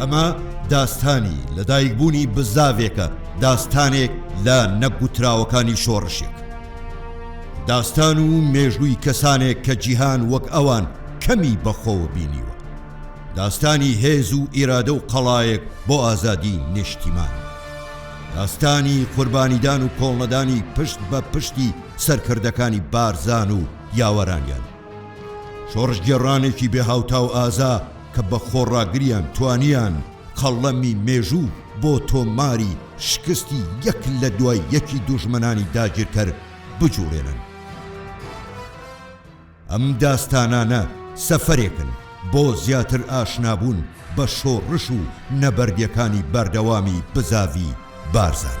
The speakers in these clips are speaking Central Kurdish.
ئەمە داستانی لەدایکبوونی بزاڤێکە داستانێک لە نەگوتراوەکانی شۆڕشێک داستان و مێژووی کەسانێک کە جیهان وەک ئەوان کەمی بەخۆوە بینیوە. داستانی هێز و ئیرادە و قەڵایەک بۆ ئازادی نیشتیمان. داستانی قوربانیدان و کۆڵنەدانی پشت بە پشتی سەرکردەکانی بارزان و یاوەرانیان. شۆڕشگێڕانێکی بێ هاوتا و ئازا کە بە خۆڕاگریان توانیان قەڵەمی مێژوو بۆ تۆماری شکستی یەک لە دوای یەکی دوژمنانی داگیرکەر بجوڵێنن. ئەم داستانانە سەفەرێکن بۆ زیاتر ئاشنابوون بە شۆڕش و نەبەردیەکانی بەردەوامی بزاڤی بارزان.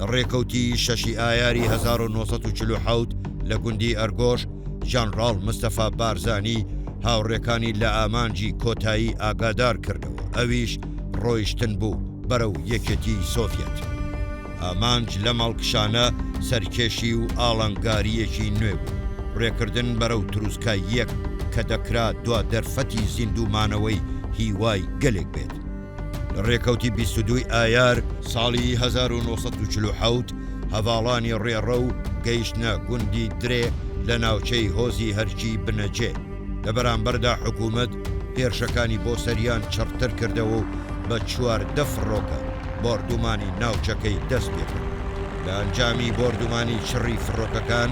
لە ڕێکەوتی شەشی ئایاری هەزار و نۆ سەد و چل و حەوت لە گوندی ئەرگۆش، ژەنڕاڵ مستەفا بارزانی هاوڕێکانی لە ئامانجی کۆتایی ئاگادار کردەوە، ئەویش ڕۆیشتن بوو بەرەو یەکێتیی سۆڤیەت. ئامانج لەم هەڵکشانە سەرکێشی و ئاڵنگارییەکی نوێ بوو، ڕێکردن بەرەو تروسکاییەک کە دەکرا دوا دەرفەتی زیندوومانەوەی هیوای گەلێک بێت. لە ڕێکەوتی بیست و دووی ئایار ساڵی هەزار و نۆ سەد و چل و حەوت هەڤاڵانی ڕێڕە و گەیشتنە گوندی درێ لە ناوچەی هۆزی هەرکی بنەجێ، لە بەرامبەردا حکوومەت هێرشەکانی بۆ سەریان چڕتر کردەوە و بە چواردە فڕۆکە بۆردوومانی ناوچەکەی دەست پێ کرد. لە ئەنجامی بۆردوومانی چڕی فڕۆکەکان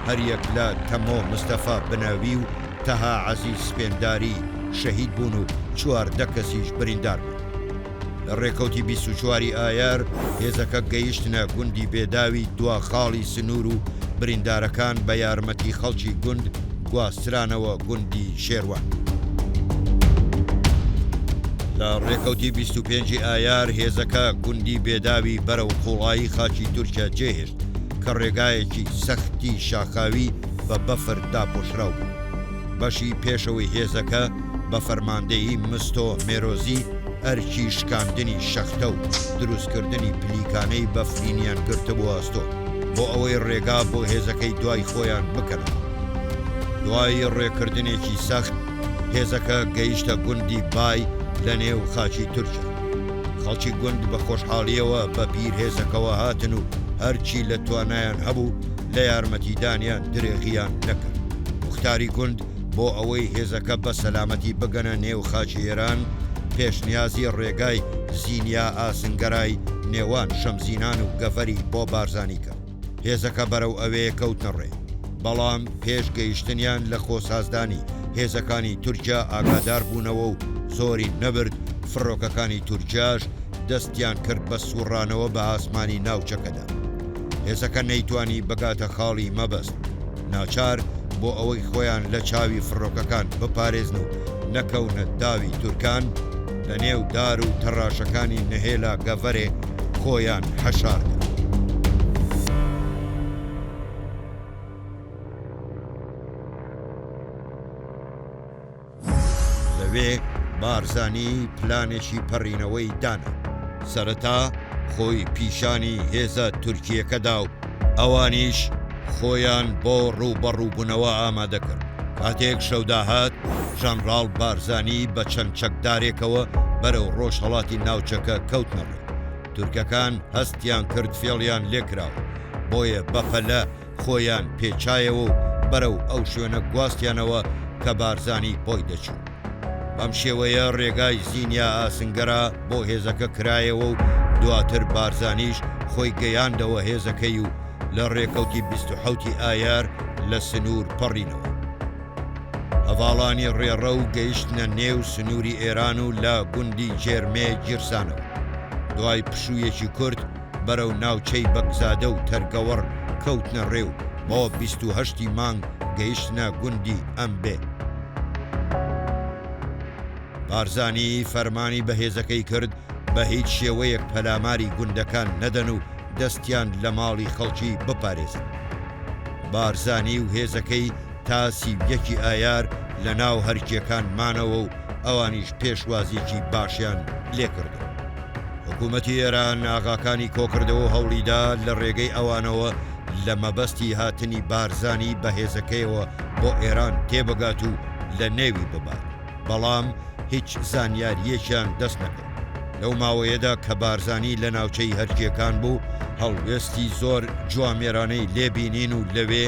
هەریەک لە تەمۆ مستەفا بنەوی و، تەها عەزیز سپێنداری شەهید بوون و چواردە کەسیش بریندار بوون. لە رێکەوتی بیست و چوار ی ئایار هێزەکە گەیشتنە گوندی بێداوی دوا خاڵی سنوور و بریندارەکان بە یارمەتی خەڵکی گوند گواسترانەوە گوندی شێروان. لە رێکەوتی بیست و پێنج ی ئایار هێزەکە گوندی بێداوی بەرەو قوڵایی خاکی تورکیا جێهێشت کە رێگایەکی سەختی شاخاوی بە بەفر داپۆشراو بوو. بەشی پێشەوەی هێزەکە بە فەرماندەیی مستۆ مێرۆزی ئەرکی شکاندنی شەختە و دروستکردنی پلیکانەی بەفرینیان گرتبوو ئەستۆ بۆ ئەوەی ڕێگا بۆ هێزەکەی دوای خۆیان بکەنەوە. دوای ڕێکردنێکی سەخت هێزەکە گەیشتە گوندی بای لە نێو خاکی تورکیا. خەڵکی گوند بە خۆشحاڵییەوە بە پیرهێزەکەوە هاتن و هەرچی لە توانایان هەبوو، لە یارمەتیدانیان درێغییان نەکرد. موختاری گوند بۆ ئەوەی هێزەکە بە سەلامەتی بگەنە نێو خاکی ئێران، پێشنیازی ڕێگای زینیا ئاسنگەرای نێوان شەمزینان و گەڤەری بۆ بارزانی کرد. هێزەکە بەرەو ئەوێ کەوتنە ڕێ. بەڵام پێش گەیشتنیان لە کۆسازدانی هێزەکانی تورکیا ئاگادار بوونەوە و زۆری نەبرد فڕۆکەکانی تورکیاش دەستیان کرد بە سووڕانەوە بە ئاسمانی ناوچەکەدا. هێزەکە نەیتوانی بگاتە خاڵی مەبەست، ناچار بۆ ئەوەی خۆیان لە چاوی فڕۆکەکان بپارێزن و نەکەونە داوی تورکان، لە نێو دار و تەڕاشەکانی نهێلا گەڤەرێ خۆیان حەشار کرد. لەوێ بارزانی پلانێکی پەڕینەوەی دانا، سەرەتا خۆی پیشانی هێزە تورکییەکە دا و ئەوانیش خۆیان بۆ ڕووبەڕووبوونەوە ئامادە کرد. کاتێک شەو داهات، ژەنڕاڵ بارزانی بە چەند چەکدارێکەوە بەرەو ڕۆژهەڵاتی ناوچەکە کەوتنە ڕێ. تورکەکان هەستیان کرد فێڵیان لێ کراوە، بۆیە بەپەلە خۆیان پێچایەوە و بەرەو ئەو شوێنە گواستیانەوە کە بارزانی بۆی دەچوو. بەم شێوەیە رێگای زینیا ئاسنگەرا بۆ هێزەکە کرایەوە و دواتر بارزانیش خۆی گەیاندەوە هێزەکەی و لە رێکەوتی بیست و حەوتی ئایار لە سنوور پەڕینەوە هەڤاڵانی رێڕە و گەیشتنە نێو سنووری ئێران و لە گوندی جێرمێ گیرسانەوە. دوای پشوویەکی کورت، بەرەو ناوچەی بەگزادە و تەرگەوەڕ کەوتنە ڕێ و بۆ بیست و هەشت ی مانگ گەیشتنە گوندی ئەمبێ. بارزانی فەرمانی بە هێزەکەی کرد بە هیچ شێوەیەک پەلاماری گوندەکان نەدەن و دەستیان لە ماڵی خەڵکی بپارێزن. بارزانی و هێزەکەی، تا سی و یەکی ئایار لە ناو هەرکیەکان مانەوە و ئەوانیش پێشوازیەکی باشیان لێکردن. حکومەتی ئێران ئاغاکانی کۆکردەوەو هەوڵیدا لە رێگەی ئەوانەوە لە مەبەستی هاتنی بارزانی بە هێزەکەیەوە بۆ ئێران تێبگات و لە نێوی ببات، بەڵام هیچ زانیاریەکیان دەست نەکەوت. لەو ماوەیەدا کە بارزانی لە ناوچەی هەرکیەکان بوو، هەڵوێستی زۆر جوامێرانەی لێ بینین و لەوێ،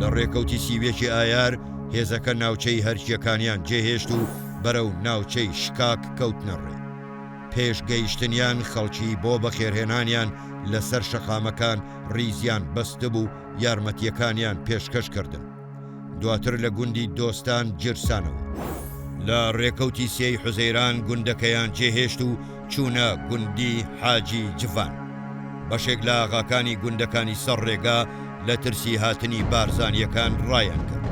لە ڕێکەوتی سی و یەکی ئایار هێزەکە ناوچەی هەرکییەکانیان جێهێشت و بەرەو ناوچەی شکاک کەوتنە ڕێ. پێش گەیشتنیان خەڵکی بۆ بەخێرهێنانیان لە سەر شەقامەکان ڕیزیان بەستبوو و یارمەتییەکانیان پێشکەش کردن. دواتر لە گوندی دۆستان گیرسانەوە. لە ڕێکەوتی سێی حوزەیران گوندەکەیان جێهێشت و چوونە گوندی حاجی جڤان، بەشێک لە ئاغاکانی گوندەکانی سەر ڕێگا لە ترسی هاتنی بارزانییەکان ڕایانکرد،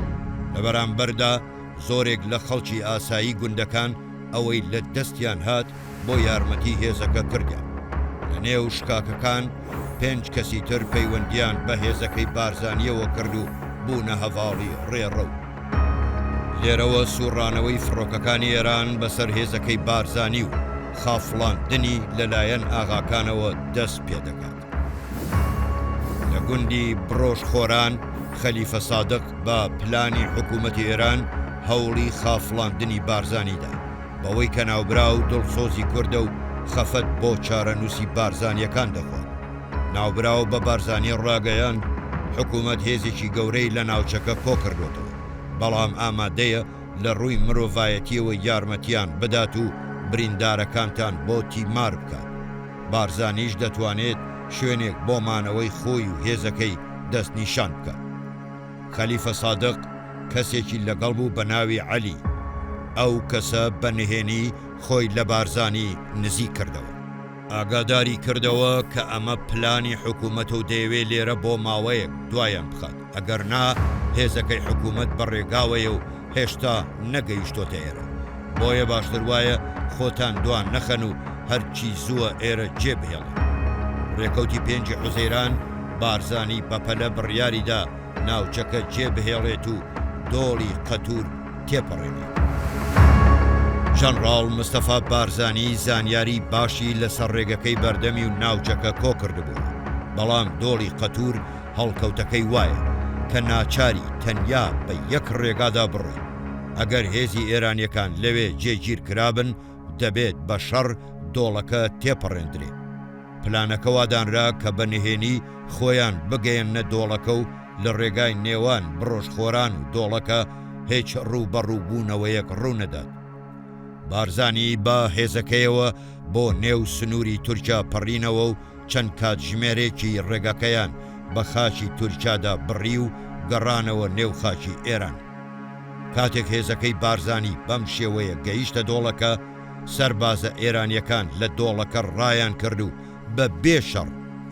لە بەرامبەردا زۆرێک لە خەڵکی ئاسایی گوندەکان ئەوەی لە دەستیان هات بۆ یارمەتی هێزەکە کردیان، لە نێو شکاکەکان پێنج کەسی تر پەیوەندییان بە هێزەکەی بارزانییەوە کرد و بوونە هەڤاڵی ڕێڕەو. لێرەوە سوڕانەوەی فڕۆکەکانی ئێران بەسەر هێزەکەی بارزانی و خافڵاندنی لەلایەن ئاغاکانەوە دەست پێدەکات. لە گوندی بڕۆژ خۆران خەلیفە سادق بە پلانی حکوومەتی ئێران هەوڵی خافڵاندنی بارزانی دا، بەوەی کە ناوبراو دڵسۆزی کوردە و خەفەت بۆ چارەنووسی بارزانییەکان دەخوات. ناوبراو بە بارزانی ڕاگەیاند، حکوومەت هێزێکی گەورەی لە ناوچەکە کۆ کردۆتەوە، بەڵام ئامادەیە لە ڕووی مرۆڤایەتییەوە یارمەتییان بدات و بریندارەکانتان بۆ تیمار بکات. بارزانیش دەتوانێت شوێنێک بۆ مانەوەی خۆی و هێزەکەی دەستنیشان بکات. خەلیفە سادق کەسێکی لەگەڵ بوو بە ناوی عەلی. ئەو کەسە بە نهێنی خۆی لە بارزانی نزیک کردەوە. ئاگاداری کردەوە کە ئەمە پلانی حکومەتە و دەیەوێت لێرە بۆ ماوەیەک دوایان بخات، ئەگەر نا هێزەکەی حکومەت بە ڕێگاوەیە و هێشتا نەگەیشتۆتە ئێرە، بۆیە باشتر وایە خۆتان دوا نەخەن و هەرچی زووە ئێرە جێبهێڵن. ڕێکەوتی پێنجی حوزەیران، بارزانی بەپەلە بڕیاریدا ناوچەکە جێبهێڵێت و دۆڵی قەتور، تێپەڕێنێ. ژەنڕاڵ مستەفا بارزانی زانیاری باشی لە سەر ڕێگەکەی بەردەمی و ناوچەکە کۆ کردبووە، بەڵام دۆڵی قەتوور هەڵکەوتەکەی وایە کە ناچاری تەنیا بە یەک ڕێگادا بڕۆین. ئەگەر هێزی ئێرانیەکان لەوێ جێگیر کرابن دەبێت بە شەڕ دۆڵەکە تێپەڕێندرێ. پلانەکە وادانرا کە بە نهێنی خۆیان بگەیەننە دۆڵەکە و لە ڕێگای نێوان بڕۆژخۆران و دۆڵەکە هیچ ڕووبەڕووبوونەوەیەک ڕوونەدات. بارزانی بە هێزەکەیەوە بۆ نێو سنووری تورکیا پەڕینەوە و چەند کاتژمێرێکی ڕێگەکەیان بە خاکی تورکیادا بڕی و گەڕانەوە نێو خاکی ئێران. کاتێک هێزەکەی بارزانی بەم شێوەیە گەیشتە دۆڵەکە، سەربازە ئێرانییەکان لە دۆڵەکە ڕایانکرد و بە بێ شەڕ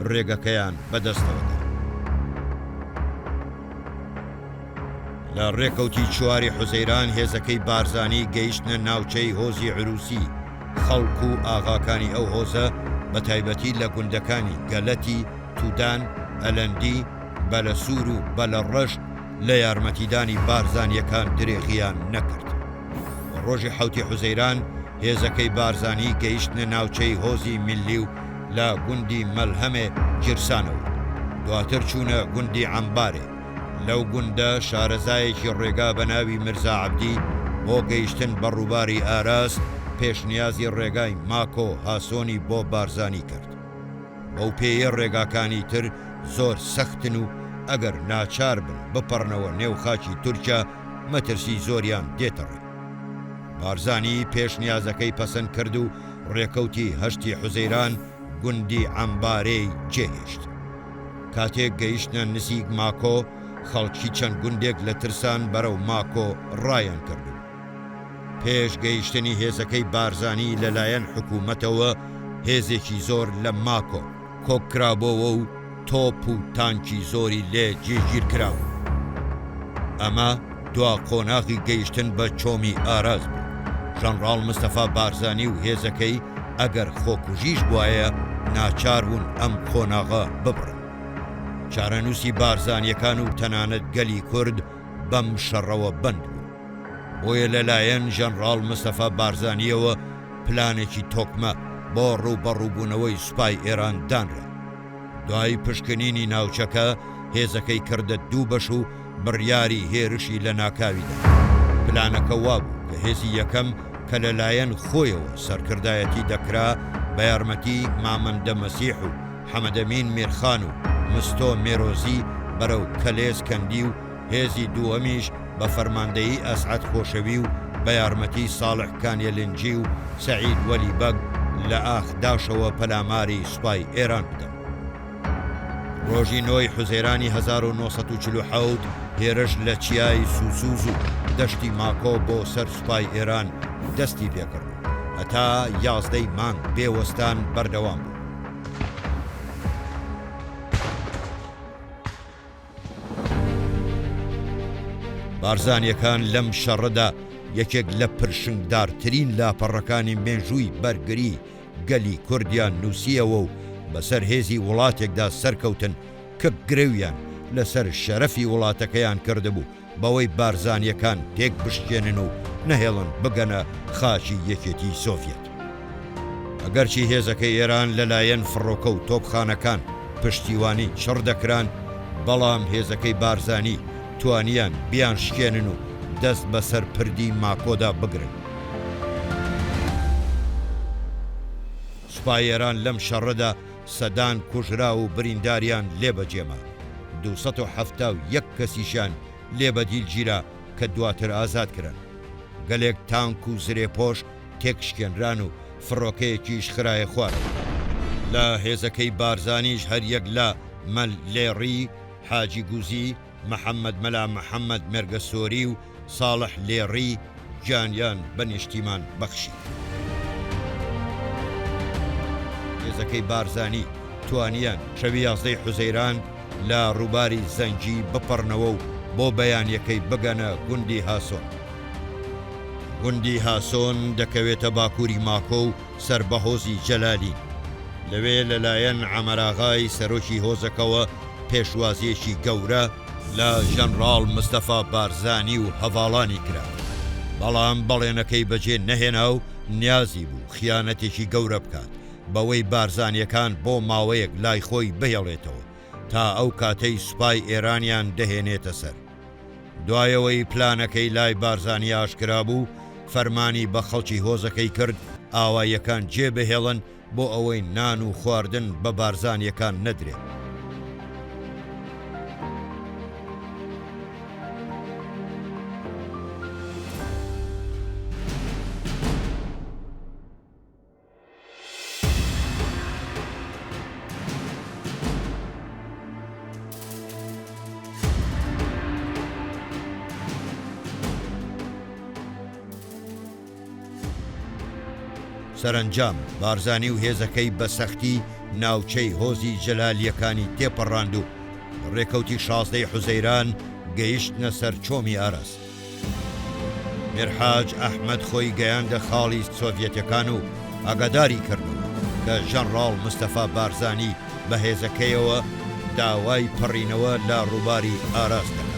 رێگەکەیان بە دەستەوە دا. لە رێکەوتی چواری حوزەیران هێزەکەی بارزانی گەیشتنە ناوچەی هۆزی عرووسی، خەڵک و ئاغاکانی ئەو هۆزە بە تایبەتی لە گوندەکانی، گەلەتی، تودان، ئەلەندی، بەلەسوور و بەلەڕەش لە یارمەتیدانی بارزانییەکان درێغییان نەکرد و رۆژی حەوتی حوزەیران، هێزەکەی بارزانی گەیشتنە ناوچەی هۆزی میللی و لە گوندی مەلهەمێ گیرسانە و دواتر چوونە گوندی عەمبارێ، لەو گوندە شارەزایەکی ڕێگا بە ناوی میرزا عەبدی بۆ گەیشتن بە ڕووباری ئاراس پێشنیازی ڕێگای ماکۆ هاسۆنی بۆ بارزانی کرد، بەو پێیە ڕێگاکانی تر زۆر سەختن و ئەگەر ناچار بن بپەڕنەوە نێو خاکی تورکیا مەترسی زۆریان دێتە ڕێ. بارزانی پێشنیازەکەی پەسەند کرد و رێکەوتی هەشتی حوزەیران گوندی عەمبارێی جێهێشت. کاتێک گەیشتنە نزیک ماکۆ، خەڵکی چەند گوندێک لە ترسان بەرەو ماکۆ رایانکرد و پێش گەیشتنی هێزەکەی بارزانی لەلایەن حکوومەتەوە هێزێکی زۆر لە ماکۆ، کۆککرابۆوە و تۆپ و تانکی زۆری لێ جێگیرکرابوو. ئەمە دوا قۆناغی گەیشتن بە چۆمی ئاراس بوو. ژەنڕاڵ مستەفا بارزانی و هێزەکەی ئەگەر خۆکوژیش بوایە ناچار بوون ئەم قۆناغە ببڕن. چارەنووسی بارزانییەکان و تەنانەت گەلی کورد بەم شەڕەوە بەند بوو. بۆیە لەلایەن ژەنڕاڵ مستەفا بارزانییەوە پلانێکی تۆکمە بۆ ڕووبەڕووبوونەوەی سوپای ئێران دانرا. دوای پشکنینی ناوچەکە، هێزەکەی کردە دوو بەش و بڕیاری هێرشی لەناکاوی دا. پلانەکە وا بوو کە هێزی یەکەم کە لەلایەن خۆیەوە سەرکردایەتی دەکرا، بە یارمەتی مامەندە مەسیح و حەمەدەمین میرخان و مستۆ مێرۆزی بەرەو کەلێز کەندی و هێزی دووەمیش بە فەرماندەیی ئەسعەد خۆشەوی و بە یارمەتیی ساڵح کانیەلنجی و سەعید وەلی بەگ لە ئاخ داشەوە پەلاماری سوپای ئێران بدەن. ڕۆژی نۆ ی حوزێرانی هەزار و نۆ سەد و چل و حەوت هێرش لە چیای سوسوز و دەشتی ماکۆ بۆ سەر سوپای ئێران دەستی پێ کرد و هەتا یازدە ی مانگ بێ وەستان بەردەوام بوو. بارزانیەکان لەم شەڕەدا یەکێک لە پرشنگدارترین لاپەڕەکانی مێژووی بەرگری گەلی کوردیان نووسیەوە و بەسەر هێزی وڵاتێکدا سەرکەوتن کە گرەویان لەسەر شەرەفی وڵاتەکەیان کردبوو، بەوەی بارزانیەکان تێکبشکێنن و نەهێڵن بگەنە خاکی یەکێتی سۆڤیەت. ئەگەرچی هێزەکەی ئێران لەلایەن فڕۆکە و تۆپخانەکان پشتیوانی چڕ دەکران، بەڵام هێزەکەی بارزانی توانیان بیانشکێنن و دەست بەسەر پردی ماکۆدا بگرن. سوپای ئێران لەم شەڕەدا، سەدان کوژراو و برینداریان لێ بەجێما، دوو سەد و حەفتا و یەک کەسیشیان لێ بەدیل گیرا کە دواتر ئازاد کران. گەلێک تانک و زرێپۆش تێکشکێنران و فڕۆکەیەکیش خرایە خوارەوە. لە هێزەکەی بارزانیش هەر یەک لە، مەل لێڕی، حاجی گوزی، محەمەد مەلا محەمەد مێرگەسۆری و ساڵح لێڕی گیانیان بە نیشتیمان بەخشی. هێزەکەی بارزانی توانیان شەوی یازدە ی حوزەیران لە ڕووباری زەنگی بپەڕنەوە و بۆ بەیانیەکەی بگەنە گوندی هاسۆن. گوندی هاسۆن دەکەوێتە باکووری ماکۆ و، سەر بە هۆزی جەلالی. لەوێ لەلایەن عەمەراغای سەرۆکی هۆزەکەوە پێشوازییەکی گەورە لە ژەنراڵ مستەفا بارزانی و هەڤاڵانی کرا، بەڵام بەڵێنەکەی بەجێ نەهێنا و نیازی بوو خیانەتێکی گەورە بکات بەوەی بارزانییەکان بۆ ماوەیەک لای خۆی بهێڵێتەوە تا ئەو کاتەی سوپای ئێرانیان دەهێنێتە سەر. دوایەوەی پلانەکەی لای بارزانی ئاشکرا بوو، فەرمانی بە خەڵکی هۆزەکەی کرد ئاواییەکان جێ بهێڵن بۆ ئەوەی نان و خواردن بە بارزانییەکان نەدرێت. سەرەنجام بارزانی و هێزەکەی بە سەختی ناوچەی هۆزی جەلالیەکانی تێپەڕاند و ڕێکەوتی شازدەی حوزەیران گەیشتنە سەر چۆمی ئاراس. میرحاج ئەحمەد خۆی گەیاندە خاڵی سۆڤیەتەکان و ئاگاداری کردن کە ژەنڕاڵ مستەفا بارزانی بە هێزەکەیەوە داوای پەڕینەوە لە ڕووباری ئاراس دەکات.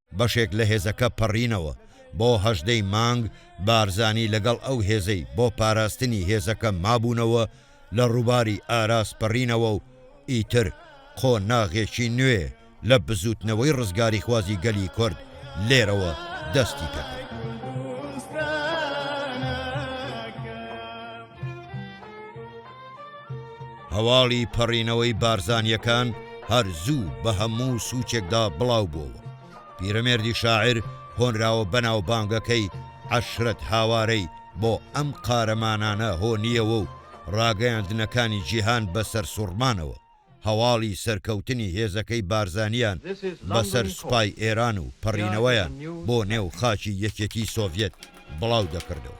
بەشێک لە هێزەکە پەڕینەوە بۆ هەژدەی مانگ، بارزانی لەگەڵ ئەو هێزەی بۆ پاراستنی هێزەکە مابوونەوە لە ڕووباری ئاراس پەڕینەوە و ئیتر قۆناغێکی نوێ لە بزووتنەوەی ڕزگاریخوازی گەلی کورد لێرەوە دەستی پێکرد. هەواڵی پەڕینەوەی بارزانیەکان هەر زوو بە هەموو سوچێکدا بڵاو بۆوە پیرەمێردی شاعر هۆنراوە بەناو بانگەکەی عەشرەت هاوارەی بۆ ئەم قارەمانانە هۆنیەوە و ڕاگەیاندنەکانی جیهان بە سەرسوڕمانەوە هەواڵی سەرکەوتنی هێزەکەی بارزانیان بەسەر سوپای ئێران و پەڕینەوەیان بۆ نێو خاکی یەکێتی سۆڤیەت بڵاو دەکردەوە.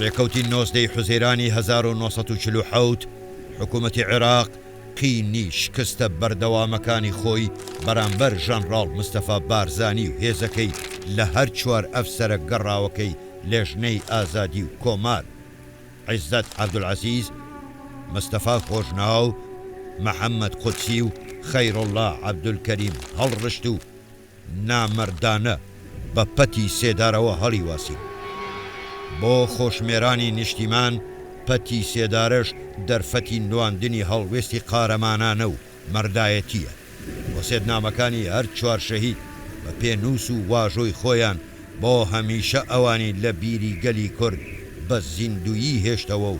ڕێکەوتی نۆزدە ی حوزەیرانی هەزار و نۆ سەد و چل و حەوت، حکوومەتی عێراق قینی شکستە بەردەوامەکانی خۆی بەرامبەر ژەنڕاڵ مستەفا بارزانی و هێزەکەی لە هەر چوار ئەفسەرە گەڕاوەکەی لێژنەی ئازادی و کۆمار، عیزەت عەبدولعەزیز، مستەفا خۆشناو، محەممەد قودسی و خەیروڵڵا عەبدولکەریم هەڵڕشت و نامەردانە بە پەتی سێدارەوە هەڵیواسین. بۆ خۆشمێرانی نیشتیمان پەتی سێدارەش دەرفەتی نواندنی هەڵوێستی قارەمانانە و مەردایەتییە. وەسێتنامەکانی هەر چوار شەهید بە پێنووس و واژۆی خۆیان بۆ هەمیشە ئەوانی لە بیری گەلی کورد بە زیندوویی هێشتەوە و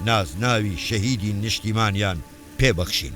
نازناوی شەهیدی نیشتیمانیان پێ بەخشین.